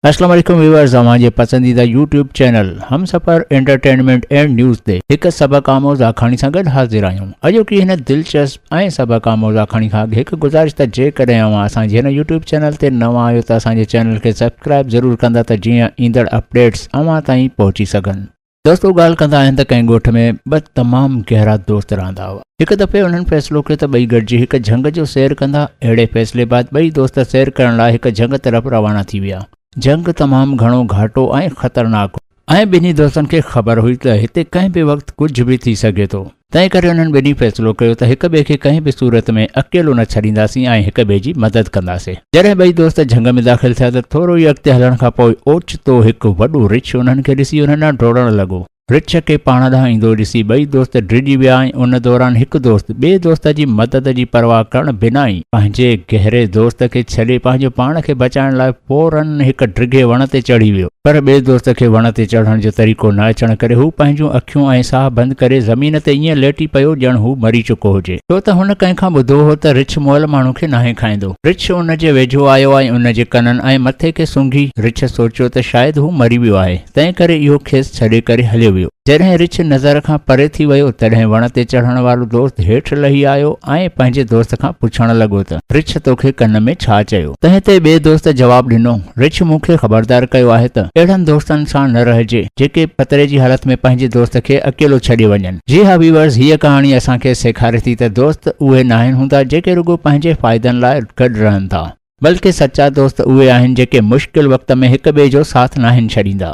اسلام عليڪم ويورز اوهان جي پسنديده YouTube channel Hum Safar entertainment and news تي هڪ سبق آموز آکاڻي سان گڏ حاضر آهيون اڄوڪي هن دلچسپ ۽ سبق آموز آکاڻي کان اڳ هڪ گذارش ته جيڪڏهن اوهان اسان جي هن يوٽيوب چينل تي نوان آهيو ته اسان جي چينل کي سبسڪرائب ضرور ڪندا ته جيئن ايندڙ اپڊيٽس اوهان تائين پهچي سگهن دوستو ڳالهه ڪندا آهن ته ڪنهن ڳوٺ ۾ ٻه تمام گهرا دوست رهندا هئا. هڪ دفعي انهن فيصلو ڪيو ته ٻئي گڏجي هڪ جهنگ جو سير ڪندا. اهڙي فيصلي بعد ٻئي دوست سير ڪرڻ لاء هڪ جهنگ طرف روانا ٿي ويا. جهنگ تمام گهڻو گهاٽو ۽ خطرناڪ هو. ۽ ٻنهي دوستن کي خبر هئي ته هتي ڪنهن به وقت ڪجهه به ٿي سگهي ٿو. تنهن ڪري انهن ٻنهي فيصلو ڪيو ته هڪ ٻئي کي ڪنهن به صورت ۾ اڪيلو نه ڇڏينداسين ۽ هڪ ٻئي جي مدد ڪنداسين. جڏهن ٻئي دوست جهنگ ۾ داخل ٿيا ته ٿورو ئي اڳتي هلڻ کان پوء اوچتو هڪ وڏو رڇ انهن کي ڏسي انهن ڏانهن ڊوڙڻ لڳو. رڇ کي پاڻ ڏانهن ايندو ڏسي ٻئي دوست ڊڄي ويا ۽ ان دوران هڪ دوست ٻئي دوست جي مدد جي پرواهه ڪرڻ بنا ئي پنهنجي گهري دوست کي ڇڏي پنهنجو پاڻ کي بچائڻ لاء فورن هڪ ڊگهي وڻ تي چڙهي ويو. پر ٻئي دوست کي وڻ تي چڙهڻ جو طريقو نه اچڻ ڪري هو پنهنجون اکيون ۽ ساهه بند ڪري زمين تي ائين ليٽي پيو ڄڻ هو مري چڪو هجي. ڇو ته هن ڪنهن کان ٻڌو هو ته رڇ مئل ماڻهو کي ناهي کائيندو. رڇ ان جي ويجهو آيو ۽ ان جي ڪنن ۽ مٿي کي سونگهي. رڇ سوچيو ته شايد هو مري ويو آهي، تنهن ڪري اهو کيس ڇڏي ڪري هليو ويو. جڏهن رڇ نظر کان پري ٿي ويو، تڏهن وڻ تي چڙهڻ وارو دوست هيٺ لهي آيو ۽ پنهنجي دوست کان پڇڻ لڳو ته، رڇ توکي ڪن ۾ ڇا چيو؟ تنهن تي ٻئي دوست جواب ڏنو. رڇ مون کي خبردار ڪيو آهي ته اهڙن دوستن سان نه رهجي جيڪي خطري جي حالت ۾ پنهنجي دوست کي اڪيلو ڇڏي وڃن. جي ها ويورز هيء ڪهاڻي اسان کي سيکاري ٿي ته دوست اهي ناهن هوندا جيڪي رڳو پنهنجي فائدن لاء گڏ رهن ٿا. بلڪه سچا دوست اهي آهن جيڪي مشڪل وقت ۾ هڪ ٻئي جو ساٿ ناهن ڇڏيندا.